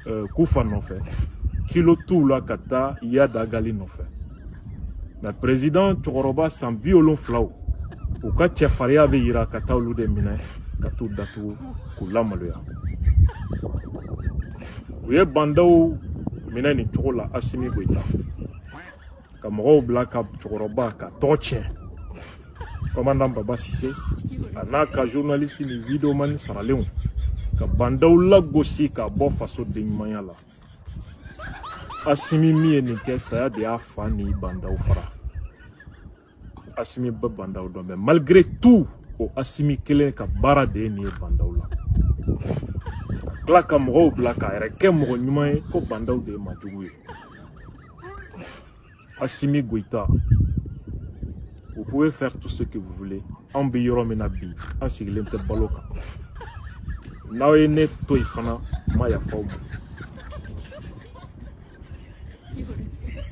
euh, kufa nɔfɛ kilo t'u la ka taa iyad ag ghali nɔfɛ mais president cɛkɔrɔba san bi wolonfilaw u ka cɛfariya bɛ yira ka taa olu de minɛ ka t'u datugu k'u lamaloya u ye bandaw minɛ nin cogo la asimi goyita ka mɔgɔw bila ka cɛkɔrɔba ka tɔgɔ tiɲɛ kɔmandan baba sise a n'a ka journaliste ni videomani saralenw ka bandaw lagosi k'a bɔ faso denɲumanya la asimi min ye nin kɛ saya de y'a fa ni bandaw fara asimi bɛ bandaw dɔn mais malgré tout o asimi kelen ka baara de ye nin ye bandaw la ka tila ka mɔgɔw bila k'a yɛrɛ kɛ mɔgɔ ɲuman ye ko bandaw de ye majugu ye Assimi Goïta, vous pouvez faire tout ce que vous voulez. An bɛ yɔrɔ min na bi an sigilen tɛ balo kan n'aw ye ne to yen fana n ma yafa aw ma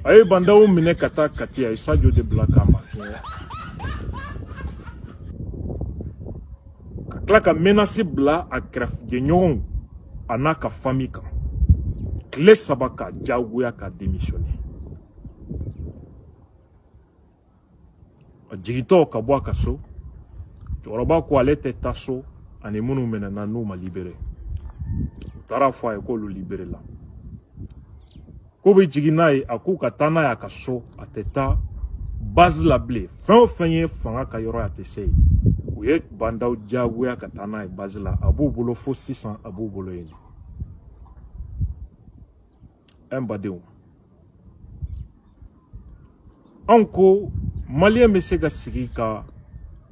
a ye bandaw minɛ ka taa kati a ye sajo de bila k'a mafiɲɛya ka tila ka menasi bila a kɛrɛfɛ jɛɲɔgɔnw a n'a ka fami kan tile saba k'a diyagoya ka demisiyɔne a jigitɔ ka bɔ a ka so cɛkɔrɔba ko ale tɛ taa so ani minnu minɛna n'u ma libere u taara a fɔ a ye k'olu liberela k'u bɛ jigin n'a ye a k'u ka taa n'a ye a ka so a tɛ taa base la bilen fɛn o fɛn ye fanga ka yɔrɔ ye a tɛ se yen u ye bandaw diyagoya ka taa n'a ye base la a b'u bolo fo sisan a b'u bolo yen n badenw anw ko maliyɛn bɛ se ka sigi ka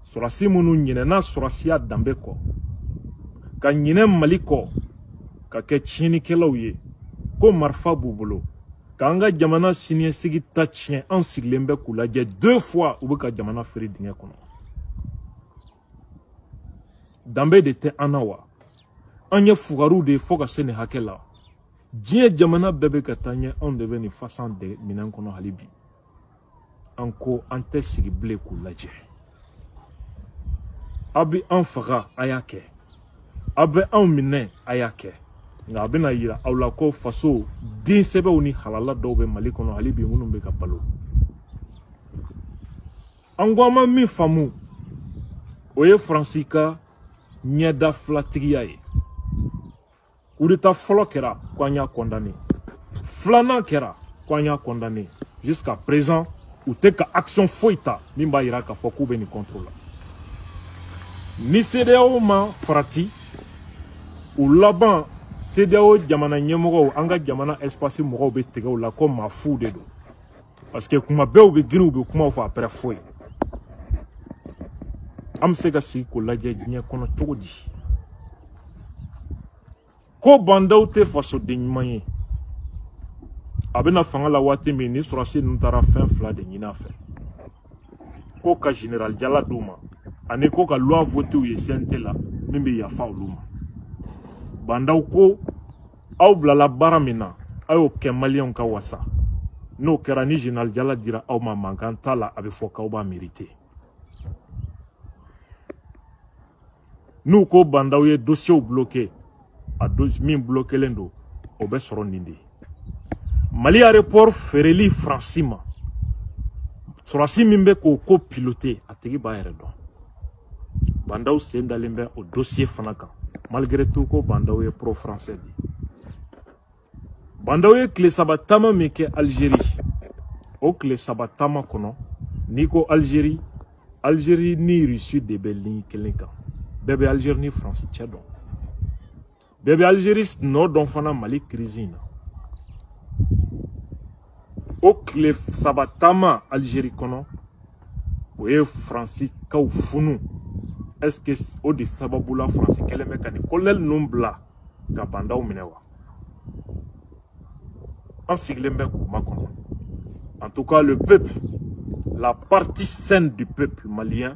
sɔrɔdasi minnu ɲinɛna sɔrɔdasiya danbe kɔ ka ɲinɛ mali kɔ ka kɛ tiɲɛnikɛlaw ye ko marifa b'u bolo k'an ka jamana siniɲɛsigi ta tiɲɛ an sigilen bɛ k'u lajɛ deux fois u bɛ ka jamana firi dingɛ kɔnɔ danbe de tɛ an na wa an ye fugariw de ye fo ka se nin hakɛ la diɲɛ jamana bɛɛ bɛ ka taa ɲɛ anw de bɛ nin fasan de minɛn kɔnɔ hali bi an ko an tɛ sigi bilen k'u lajɛ aw bɛ an faga a y'a kɛ aw bɛ anw minɛ a y'a kɛ nka a bɛna yira aw la ko faso den sɛbɛw ni halala dɔw bɛ mali kɔnɔ hali bi minnu bɛ ka balo an ko an ma min faamu o ye faransi ka ɲɛdafilatigiya ye kudeta fɔlɔ kɛra ko an y'a kɔndane filanan kɛra ko an y'a kɔndane jusqu'à présent u tɛ ka action foyi ta min b'a yira k'a fɔ k'u bɛ nin contre la ni CEDEAO ma farati u laban CEDEAO jamana ɲɛmɔgɔw an ka jamana espace mɔgɔw bɛ tigɛ u la ko maa fuw de don parce que kuma bɛɛ u bɛ girin u bɛ kumaw fɔ après foyi an bɛ se ka sigi k'o lajɛ diɲɛ kɔnɔ cogo di ko bandaw tɛ fasoden ɲuman ye a bɛ na fanga la waati min nin sɔrɔdasi ninnu taara fɛn fila de ɲini a fɛ ko ka général jala d'u ma ani ko ka loi voté u ye CNT la min bɛ yafa olu ma bandaw ko aw bilala baara min na aw y'o kɛ maliyɛnw ka wasa n'o kɛra ni général jala dira aw ma mankan t'a la a bɛ fɔ k'aw b'a mérité n'u ko bandaw ye dossierw bloqué a min bloquelen don o bɛ sɔrɔ nin de mali aéroport feereli faransi ma sɔrɔdasi min bɛ k'o ko piloté a tigi b'a yɛrɛ dɔn bandaw sen dalen bɛ o dosiye fana kan malgré tout ko bandaw ye pro français de bandaw ye tile saba taama min kɛ algérie o tile saba taama kɔnɔ n'i ko algérie algérie ni russie de bɛ ligne kelen kan bɛɛ bɛ algérie ni france cɛ dɔn bɛɛ bɛ Algerie nɔ dɔn fana Mali crise in na o tile saba taama Algerie kɔnɔ o ye Faransikaw funu est-ce que o de sababu la Faransi kɛlen bɛ ka nin kolonɛli ninnu bila ka bandaw minɛ wa an sigilen bɛ k'u makɔnɔ en tout cas le peuple la partie saine du peuple malien